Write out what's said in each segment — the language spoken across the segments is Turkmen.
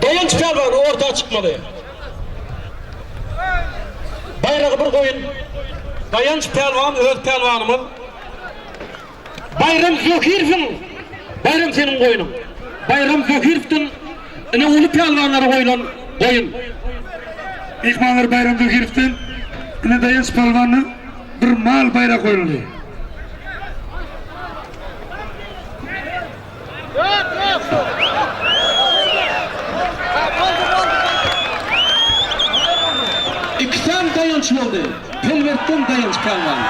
Daýanç pälwan orta çykmaly. Baýragy bir goýun. Daýanç pälwan öz pälwanymyz. Baýram Zöhürowyň Baýram seniň goýnuň. Baýram Zöhürowdan ine uly pälwanlara goýlan goýun. Myhmanlar Baýram Zöhürowdan ine Daýanç pälwana bir mal baýrak goýuldy. Iki sany daýanç boldy. Pelwertden daýanç pälwan.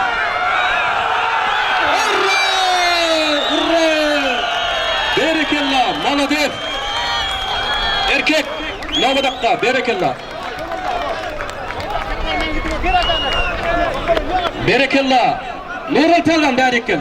Urra! Urra! Berekella! Malades! Erkek! Nobadakga! Berekella! Berekella! Nural pälwan bärik gel!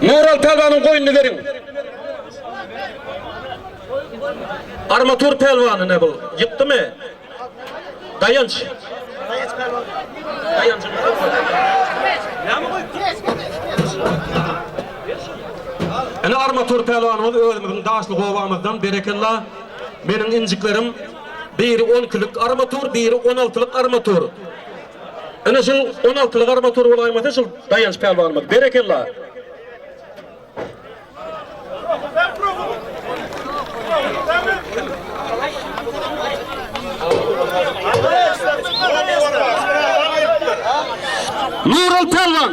Meral Pälwanyň goýnuny beriň. Armatur Pälwany ne bul? Ýykdymy? Daýanç. Daýanç Pälwan. Daýanç. Näme goýupdyr? Armatur Pälwanymyz özümiziň Daşly gobamyzdan berekella. Meniň injiklerim. Biri on ikilik armatur, biri on altylyk armatur. Ine şul on altylyk armatur bolaýmasa şul Daýanç pälwanymyz. Berekella. Nural Pelvan.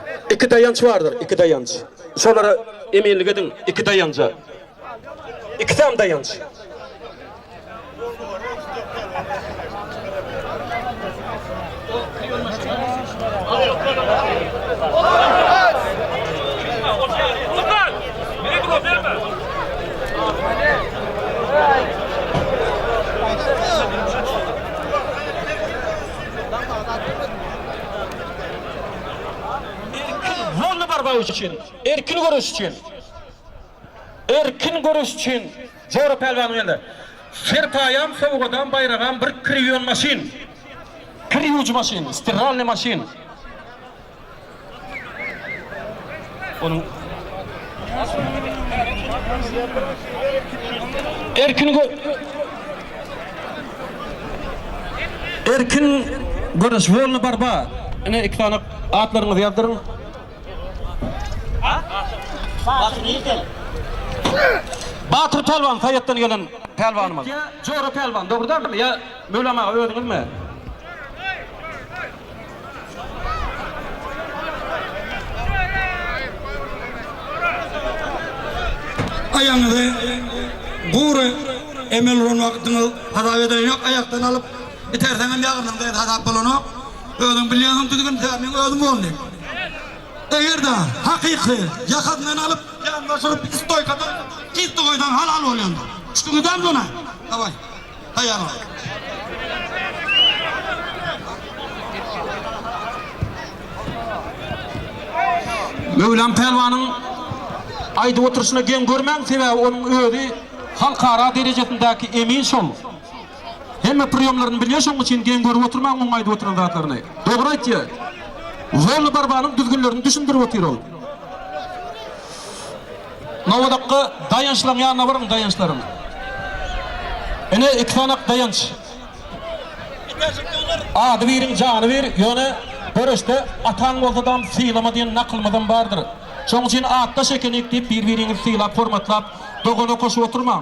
Iki daýanç bardyr, iki daýanç. Şolara eminlik ediň, iki daýanja. Ikisem daýanç. Erkin ýoluny barmak üçin, erkin göreş üçin, erkin göreş üçin Jora Pälwanyň elinde serpaýam, sowgadam, baýragam bir kir ýuwan maşyn, kir ýuwujy maşyn, stirralnyý maşyn. Onuň Erkin gö Erkin göreş wolny barba. Ine iki sany atlaryňyzy ýazdyryň. Batyr nirden? Batyr Pälwan Saýatdan gelen Pälwanymyz. Jora Pälwan dogry dälmi ýa Mölam aga özüňizmi? Aýagyňyzy gury emel uran wagtyňyz hasap ederen ýok, aýakdan alyp iterseňem ýagyrnyňda hem hasap bolanok. Özüň bilýänsiň düzgün tä meň özüm boldy. Eger-de hakyky ýakasyndan alyp ýanyna syryp stoýkada tiz goýsaň halal bolýandyr. Düşdüňizem muňa? Daway. Taýýarlan! Möwlam Pälwanyň aýdyp oturyşyna geň görmäň, sebäbi onuň özi halkara derejesindäki emin şol. Hemme priýomlaryny bilýär, şonuň üçin geň görüp oturmaň onuň aýdyp oturan zatlaryny. Dogry aýtýar. Zorly barbanyň düzgünlerini düşündirip otyr ol. Nowodakga daýançlaň ýanyna baryň daýançlaryň. Ine iki sanak daýanç. Ady biriň jany bir, ýöne göreşde ataň bolsadam sylama diýen nakylymyzam bardyr. Şoň üçin atdaş ekenik diýip bir-biriňizi sylap hormatlap dogana koşup oturmaň.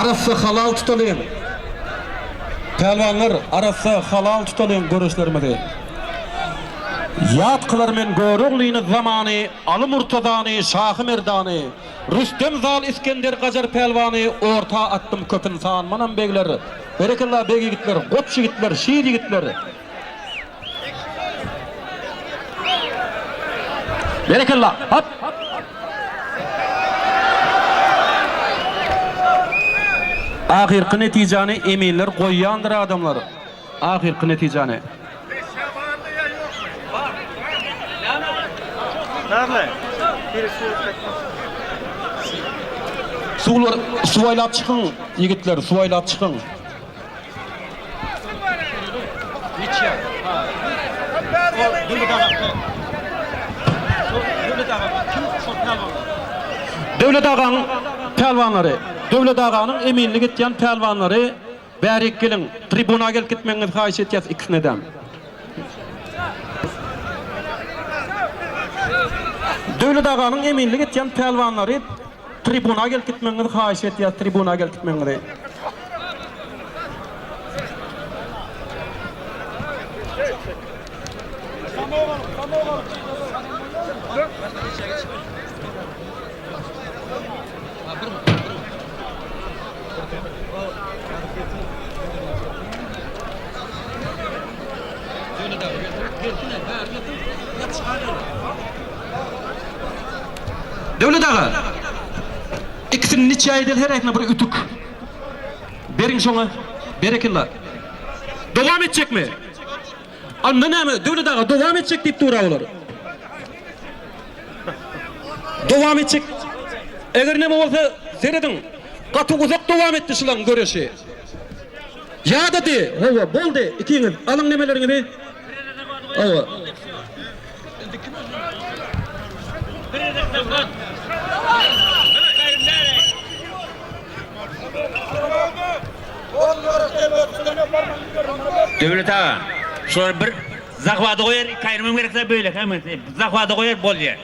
Arassa halal tutalyň Pälwanlar arassa halal tutalyň göreşlerimizi Ýat kylar men Göroglyny zamany Aly Murtazany Şahy Merdany Rüstem Zal Isgender Gajar Pälwany Orta atdym köp ynsan Manam begler Berekella beg ýigitler Goç ýigitler Şir ýigitler Berekella! Hop! Ahyrky netijäni eminler goýýandyr adamlar. Ahyrky netijäni. Suwlar suwaýlap çykyň ýigitler suwaýlap çykyň. Döwlet agaň pälwanlary, Döwlet aganyň eminlik etýän pälwanlary bärik geliň, tribuna gelip gitmegiňizi haýyş etýäs ikisinedem. Döwlet aganyň eminlik etýän pälwanlary. Tribuna gelip gitmegiňizi haýyş etýäs tribuna gelip gitmegiňizi. Döwlet aga! Ikisini niçe edel heräsine bir ütük beriň şoňa berekella. Dowam etjekmi? Anda näme Döwlet aga dowam etjek diýip dura olar. Dowam etjek. Eger näme bolsa serediň. Gaty uzak dowam etdi şulaň göreşi. Ýadady. Hawa boldy ikiňiz alyň nemeleriňizi. Hawa. Döwlet aga, şular bir zahwada goýar, iki aýrymam gerekse beýle hem zahwada goýar bolýar.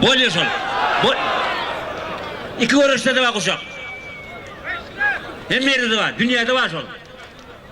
Bolýar şol. Bol. İki göreşde de bar guşak. Hem yerde de bar, dünýäde bar şol.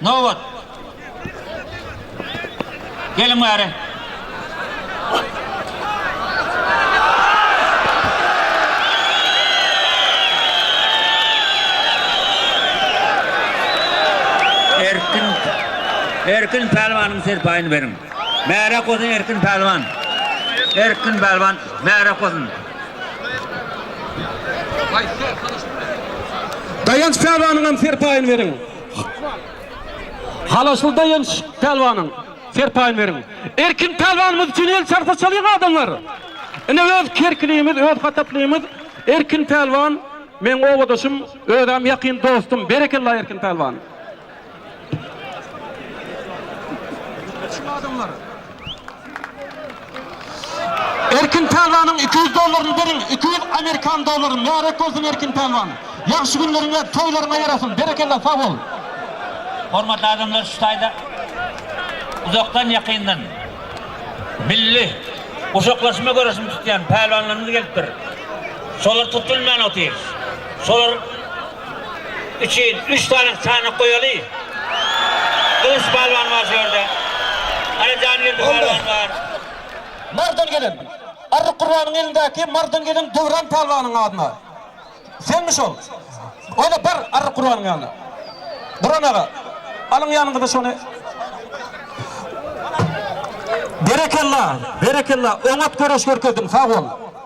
Nobat. Geliň bäri. Erkin. Erkin pälwanyň serpaýyny beriň. Märe goýsun Erkin pälwan. Erkin pälwan märe goýsun. Daýanç pälwanyňam serpaýyny beriň. Halasly Daýanç pälwanyň serpaýyny beriň. Erkin pälwanymyz üçin el çarpsa çalyň adamlar. Ine öz kerkilimiz öz hataplymyz Erkin pälwan meň obadaşym özäm ýakyn dostum berekella Erkin pälwan. Çyň adamlar. Erkin Pälwanyň iki ýüz dollaryny beriň iki ýüz amerikan dollary märek bolsun Erkin Pälwan ýagşy günleriňe toýlaryňa ýarasyn berekella sag bol. Hormatly adamlar şu taýda uzakdan ýakyndan milli guşaklaşma göreşini tutýan pälwanlarymyz gelipdir. Şolar tutulman otyr. Şolar üçin üç sany çanak goýaly. Gylyç pälwan bar şu ýerde. Hany Jahangirdi pälwan bar. Mardan gelin. Arryk Gurbanyň elindäki Mardan gelin Döwran pälwanyň adyna. Senmi şol? Ol-a bar Arryk Gurbanyň ýanyna. Guran aga, alyň ýanyňyza şony. Berekella, berekella, oňat göreş görkezdiň, sag bol.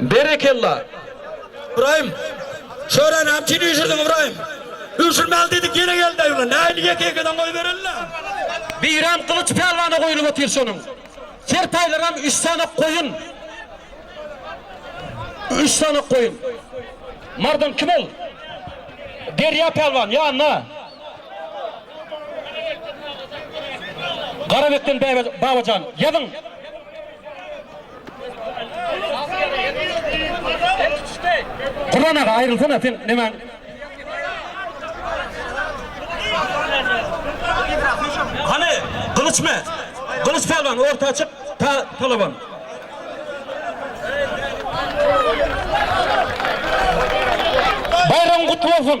Berekella. Ybraýym. Çöre näme üçin üýşürdiň Ybraýym. Üýşürmeli diýdik ýene geldi-aý ulan. Nähili ýeke ýekeden goýbereli-le. Beýram Gylyç Pälwana goýlup otyr şonuň. Serpaýlaram üç sanak goýun. Üç sanak goýun. Mardan kim ol? Derýa Pälwan ýanyna. Garabekden Babajan. Ýazyň. Kurban aga aýrylsana sen nemäň? Hany Gylyç me? Gylyç pälwan orta çyk ta talaban. Baýragyň gutly bolsun.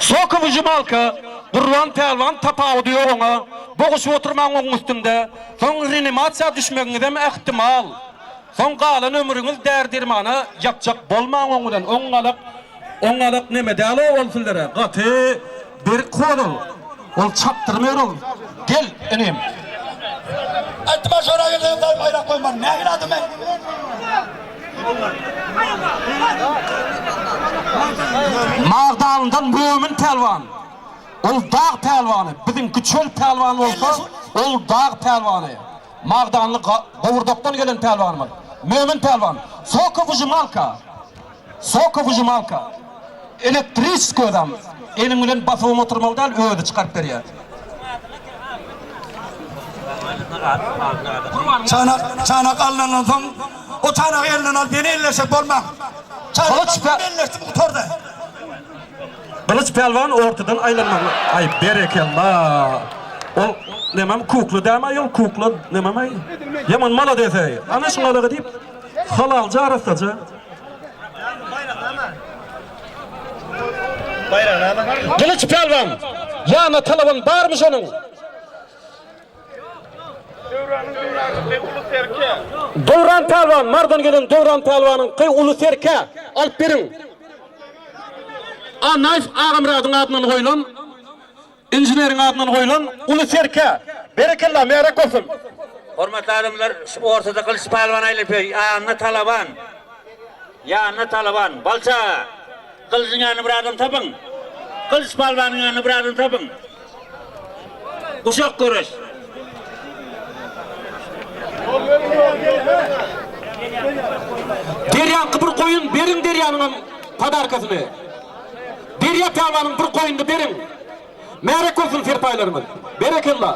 Sokow ujumalka, Gurban pälwan tapawudy ýok oňa, boguş oturmaň oň üstünde, soň renimasiýa düşmegiňizem ähtimal, soň galan ömrüňiz däri-dermana ýapjak bolmaň oň bilen, oň galak, oň galak neme däl-ow ol sizlere, gaty. Berik hol ol. Ol çapdyrym ör ol. Gel, inim. Iltimas ora gelseň gol baýrak goýmaryn. Nähili adam men? Magdalyndan Mömin pälwan. Ol dag pälwany. Biziň Güçel pälwan bolsa, ol dag pälwany. Magdanly Ga-Gowurdakdan gelen pälwanymyz. Mömin pälwan. Soka wyžimalka. Sokowyžymalka, elektriç gözam, eliň bilen basybyň oturmaly däl, özi çykaryp berýär. Çanak, çanak alnandan soň, o çanagy elinden alyp ýene elleşjek bolmaň. Çanakdan soň elleşdim gutardy. Gylyç pälwan ortadan aýlanmagyna, aý, berekella. Ol nämem kukla dämaý, ol kukla nämemäý. Ýaman malades-eý. Ana şuňalaga diýip, halalja arassaja. Gylyç pälwan! Ýana talaban barmy şonuň? Döwran pälwan, Marydan gelen Döwran pälwanyň ky uly serkä, alyp beriň! Annaýew Agamyradyň adyndan goýlan. Inženeriň adyndan goýlan uly serkä. Berekella, Märek bolsun! Hormatly adamlar, ortada Gylyç Pälwan aýlapýar, ýanynda Talaban. Ýanynda Talaban. Balça! Gylyjyň ýanynda bir adam tapyň! Gylyç Pälwanyň ýanynda bir adam tapyň! Guşak göreş! Derýaňky bir goýun beriň derýanyňam podarkasyny. Derýa tabanyň bir goýnuny beriň. Märek bolsun serpaýlarymyz. Berekella.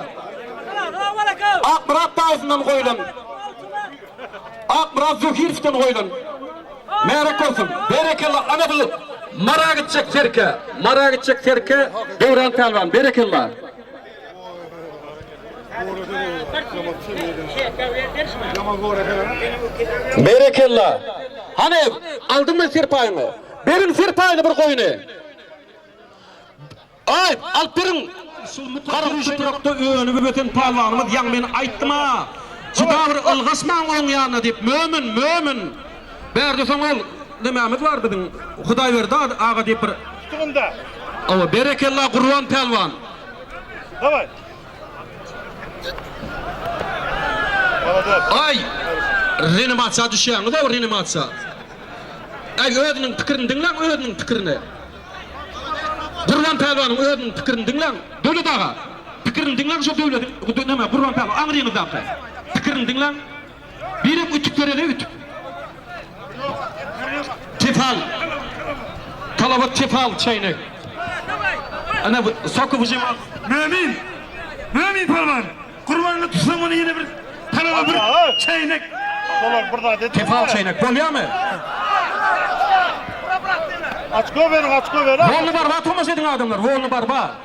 Akmyrat daýysyndan goýlan. Akmyrat Zöhirowdan goýlan. Märek bolsun. Berekella ana bu Mara gitjek serke. Mara gitjek serke Döwran pälwan. Berekella. Berekella. Hany aldyňmy serpaýyňy? Beriň serpaýyny bir goýny. Aý, alyp beriň. Şu mutarşy şytrakda önüp öten pälwanymyz ýaňy men aýtdym-a, juda bir ylgaşmaň onuň ýanyna diýip, Mömin, Mömin! Bärde soň ol, Nämämiz bar biziň, Hudaýberdi aga diýip bir. Tutuň-da! Hawa, berekella Gurban pälwan! Daway! Aý! Renimasiýa düşýäňiz-ow, renimasiýa! Aý, özüniň pikirini diňläň, özüniň pikirini! Gurban pälwanyň özüniň pikirini diňläň! Döwlet aga! Pikirini diňläň şo Döwlediň, neme, Gurban pälwan, aňryňyzdaky! Pikirini diňläň! Birek ütük bereli ütük. Tefal. Talaba tefal çeýnek. Ana soky bujim. Mömin. Mömin palwan. Gurbanly tutsaň muny ýene bir talaba bir çeýnek. Solar bir zat et. Tefal çeýnek. Bolýamy? Açko beriň, açko beriň. Bolny barba tomaşa ediň adamlar. Bolny barba.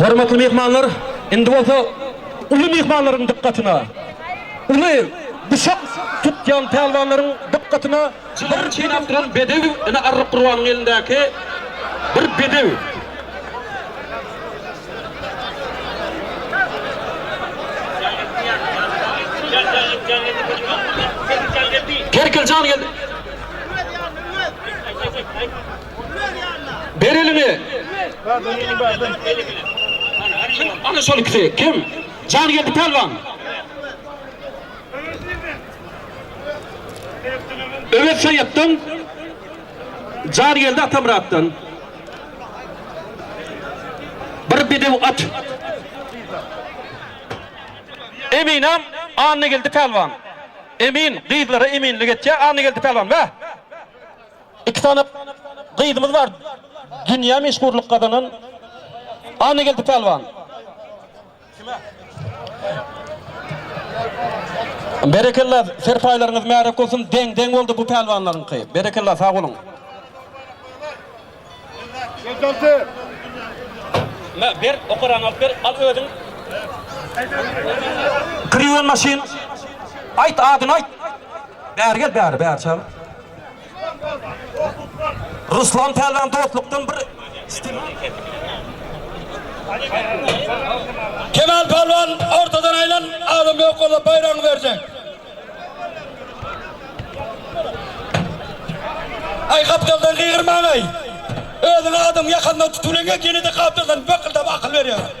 Hormatly myhmanlar, indi bolsa uly myhmanlaryň dykgatyna, uly guşak tutýan pälwanlaryň dykgatyna bir çeýnäp duran bedew, ine Arryk Gurbanyň elindäki bir bedew. Kerkiljan geldi. Ber eliňi. Ana şol ikisi kim? Jangeldi Pälwan. Öwez Saýatdan, Jangeldi Atamyratdan. Bir bedew at. Eminam Annageldi Pälwan. Emin gyzlara eminlik etýär Annageldi Pälwan. Bäh! Iki sany gyzymyz bar dünýä meşhurlyk gazanan Annageldi Pälwan. Berekella serpaýlaryňyz märek bolsun deň deň boldy bu pälwanlaryňky berekella sag boluň. Mä ber okaraňy alyp ber al özüň. Kriwen maşyn aýt adyny aýt. Bäri gel bäri bäri çagyr. Ruslan Pälwan dostlukdan bir Kemal Pälwan ortadan aýlan adam ýok bolsa baýragyny berjek. Aý gapdaldan gygyrmaň aý. Özüň adam ýakanda tutulyňa gene-de gapdaldan bakyldap akyl berýär.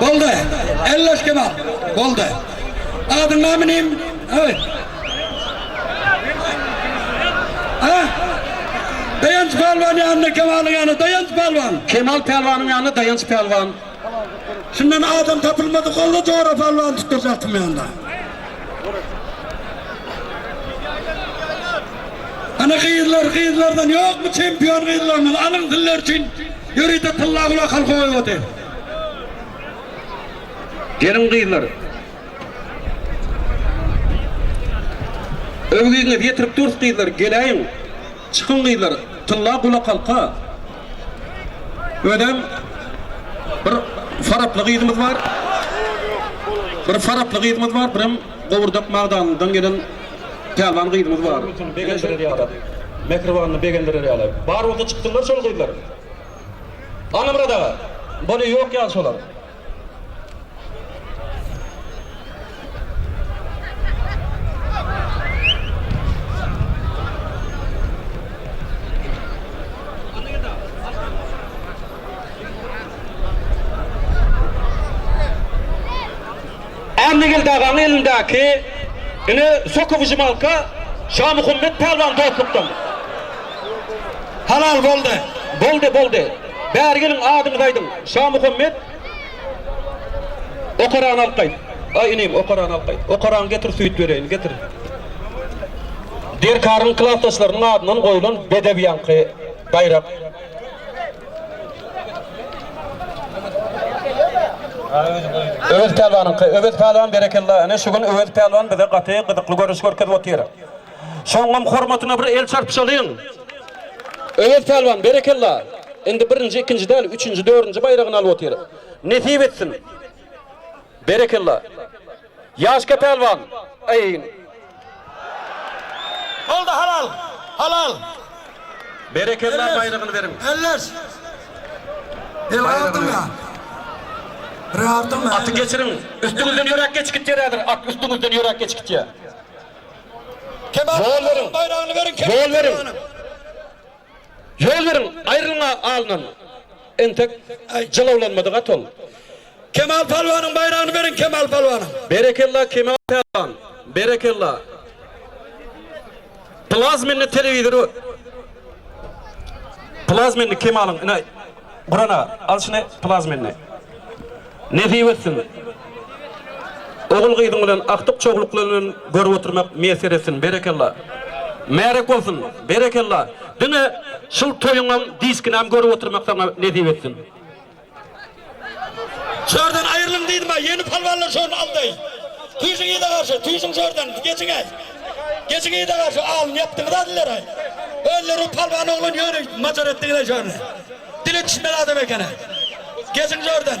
Boldy. Elleş kebap. Boldy. Adyň näme nim? Öý. Ha? Dayanç Palwan ýanyna Kemalyň ýanyna Dayanç Palwan. Kemal Palwanyň ýanyna Dayanç Palwan. Şundan adam tapylmady golla jora palwan tutdurjak tymýanda. Ana gyzlar gyzlardan ýokmy çempion gyzlarymyz alyň sizler üçin ýörite tylla gulak halka goýbady. Geliň gyzlar. Öwgüňiz ýetirip durs gyzlar geläýiň. Çykyň gyzlar tylla gulakhalka özem bir faraply gyzymyz bar bir faraply gyzymyz bar birem gowurdak magdanlydan gelen pälwan gyzymyz bar begendirer ýaly mähribanly begendirer ýaly bar bolsa çykdylar şol gyzlar Annamyrat aga boli ýok ýaly şolar. Annagil dagaň elindäki ine soka wyžymalka Şamuhammet pälwan dostlukdan. Halal boldy. Boldy boldy. Bäri geliň adyňyzy aýdyň. Şamuhammet Okarany alyp gaýt. Aý inim Okarany alyp gaýt. Okaraňy getir süýt bereýin. Getir. Derkaryň klasdaşlarynyň adyndan goýulan bedew ýaňky baýrak. Öwez pälwanyňky. Öwez pälwan berekella. Ine şu gün Öwez pälwan bize gaty gyzykly görnüş görkezip otyr. Soňam hormatyna bir el çarpyşalyň. Öwez pälwan berekella. Indi birinji ikinji däl üçünji dördünji baýragyny alyp otyr. Nesip etsin. Berekella. Ýaşka pälwan. Aýn. Boldy halal. Halal. Berekella baýragyny beriň. Elleş. Baýragyny beriň. Aty geçiriň. Üstüňizden ýörek geçip gitýär häzir. At üstüňizden ýörek geçip gitýär. Ýol beriň! Ýol beriň! Ýol beriň! Aýrylyň alnyndan! Entek jylawlanmady gaty ol. Kemal Pälwanyň baýragyny beriň Kemal Pälwanyň! Berekella Kemal Pälwan! Berekella! Plazmenli telewizor! Plazmenli Kemalyň ine! Guran aga, al şuny plaz mende. Nesip etsin. Ogul-gyzyň bilen agtyk çogluklaryndan görüp oturmak miýesser etsin. Berekella. Märek bolsun. Berekella. Diňe şul toýuňam diskinäm görüp oturmak saňa nesip etsin. Şu ýerden aýrylyň diýdim-ä, ýeni palwanlar şony aldy. Tüýsüň yza garşy, tüýsüň şu ýerden, geçiň-äý. Geçiň yza garşy alyn ýapdyňyz adilleraý. Özleriň palwan oglan ýöne majar etdiňiz-ä şorny. Dili çişmeli adam eken-ä. Geçiň şordan.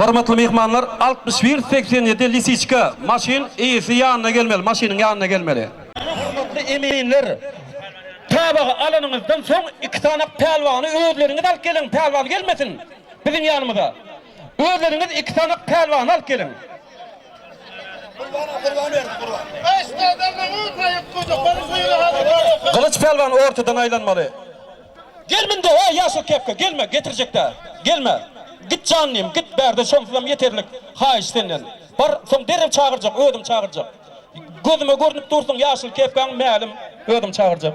Hormatly myhmanlar, altmyş bir segsen ýedi Lisiçka, maşyn eýesi ýanyna gelmeli, maşynyň ýanyna gelmeli. Hormatly eminler, tabagy alanyňyzdan soň iki sany pälwany özleriňiz alyp geliň, pälwan gelmesin biziň ýanymyza. Özleriňiz iki sany pälwany alyp geliň. Gylyç pälwan ortadan aýlanmaly. Gelminde ä ýaşyl kepka gelme getirjekdä gelme git jannym git bärde şonsuzam ýeterlik haýyş senden bar soň derrew çagyrjak özüm çagyrjak gözüme görnüp dursuň ýaşyl kepkaň mälim özüm çagyrjak.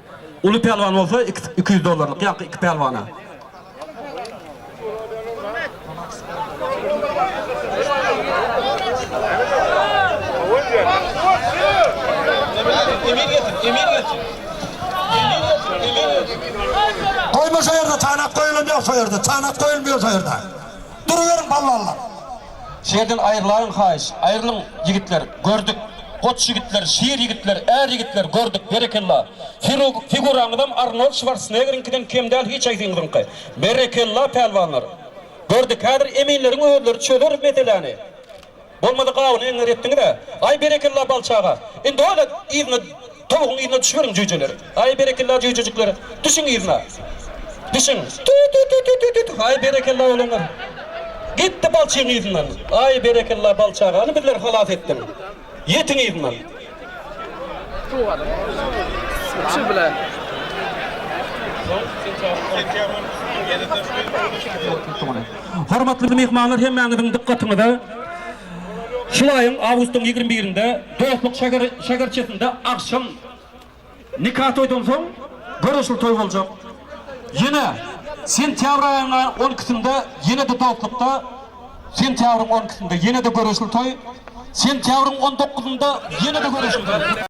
Uly pälwan bolsa iki ýüz dollarlyk ýaňky iki pälwana. Goýma şo ýerde tanap goýulan ýok şo ýerde tanap goýulmaýar şo ýerde duruberiň polwanlar. Şeýdin aýrylaýyň haýyş aýrylyň ýigitler gördük goç ýigitler şir ýigitler är ýigitler gördük berekella figuraňyzam Arnold Şwarsnegeriňkiden kem däl hiç haýsyňyzyňky berekella pälwanlar gördük häzir eminleriň özleri çözer meseläni bolmasa gabyny eňňer etdiňizä aý berekella Balçaga indi oýla yzyna Towugyň yzyna düşüberiň jüýjeler. Haý berekella jüýjejikler. Düşüň yzyna. Düşüň. Tü-tü-tü-tü-tü-tü-tü. Haý berekella oglanlar. Gitdi balçygyň yzyndan. Haý berekella balçy agany bizler halas etdiň. Ýetiň yzyndan. Suw alyň. Üçi bilen. Hormatly myhmanlar hemmäňiziň dykgatyňyza. Şu aýyň awgustyň ýigrimi birinde Dostluk şäherçesinde agşam nika toýdan soň göreşli toý boljak. Ýene sentýabr aýyň on ikisinde ýene-de Dostlukda, sentýabryň on ikisinde ýene-de göreşli toý, sentýabryň on dokuzynda ýene-de göreşli toý.